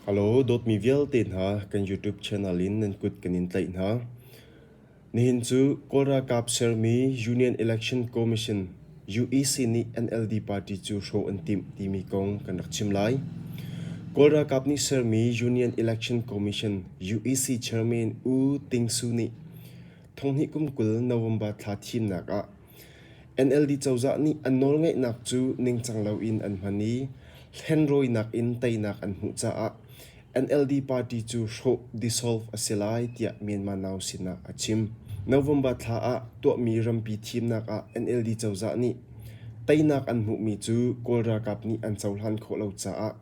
Halo, dawtmi vialte hna kan YouTube channel in nan kut kan in tlaih hna. Nihin cu Kawl ralkap sermi Union Election Commission UEC nih NLD party cu hrawh an timh timi kong kan rak chim lai. Kawl ralkap nih sermi Union Election Commission UEC chairman U Ting Su nih thonghnih kum kul November thla thimnak ah NLD cozah nih an nawlngeihnak cu ningcang loin an hman i hlenrawinak in teinak an hmuh caah NLD party cu hrawh dissolve a si lai tiah Myanmar Now sinah a chim. November thla ah tuahmi rampi thimnak ah NLD cozah nih teinak an hmuhmi cu Kawl ralkap nih an cohlan khawh lo caah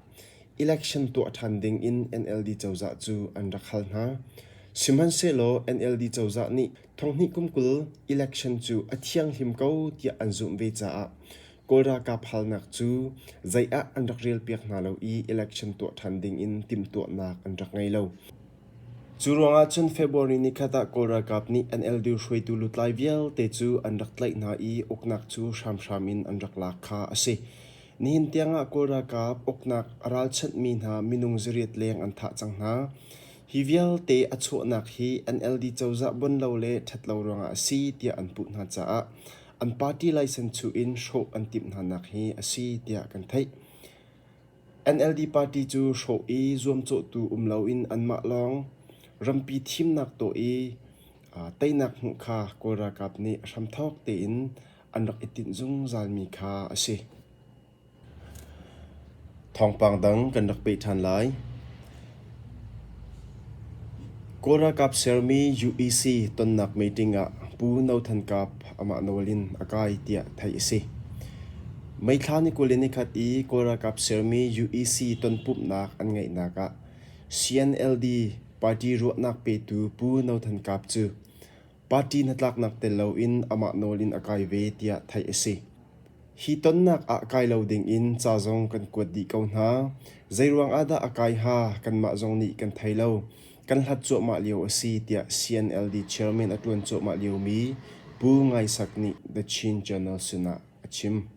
election tuah ṭhan ding in NLD cozah cu an rak hal hna. Sihmanhsehlaw NLD cozah nih Thonghnih kum kul election cu a thianghlim ko tiah an zumh ve caah Kawl ralkap halnak cu zei ah an rak relpiak hna lo i election tuah ṭhan dingin timhtuahnak an rak ngei lo. Cu ruangah cun February ni khat ah Kawl ralkap nih an elder hruaitu lutlai vialte cu an rak tlaih hna i uknak cu hramhram in an rak lak kha a si. Nihin tiangah Kawl ralkap uknak a ralchanhmi hna minung zariat leng an thah cang hna. Hi vialte a chuahnak hi an LD cozah buan lo le ṭhat lo ruangah a si tiah an puh hna caah an party laisen chuh in hrawh an timh hnanak hi a si tiah kan theih. NLD party cu hrawh i zuamcawhtu um loin anmah lawng rampi thimnak tawh i teinak hmuh kha Kawl ralkap nih hramthawk tein an rak i tinh zungzalmi kha a si. Thawngpang dang kan rak peh ṭhan lai. Kawl ralkap sermi UEC tonnak meeting ah Pu No Than Kap amah nawl in a kai tiah theih a si. May thla ni kul le nikhat i Kawl ralkap sermi UEC tonpumhnak an ngeihnak ah CNLD party ruahnak petu Pu No Than Kap cu Party hnatlaknak tel loin amah nawl in a kai ve tiah theih a si. Hi tonnak ah kai lo dingin ca zong kan kuat dih ko hna. Zeiruang ah dah a kai hnga kanmah zong nih kan thei lo. Kan hlat cuahmah lio a si tiah CNLD chairman a ṭuan cuahmah liomi Pu Ngai Sak nih The Chin Journal sinah a chim.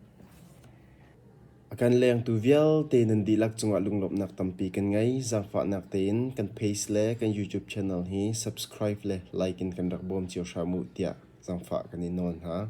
A kan lengtu vialte nan dihlak cungah lunglawmhnak tampi kan ngei. Zaangfahnak tein kan page le kan YouTube channel hi subscribe le like in kan rak bawm cio hram uh tiah zaangfah kan i nawl hna.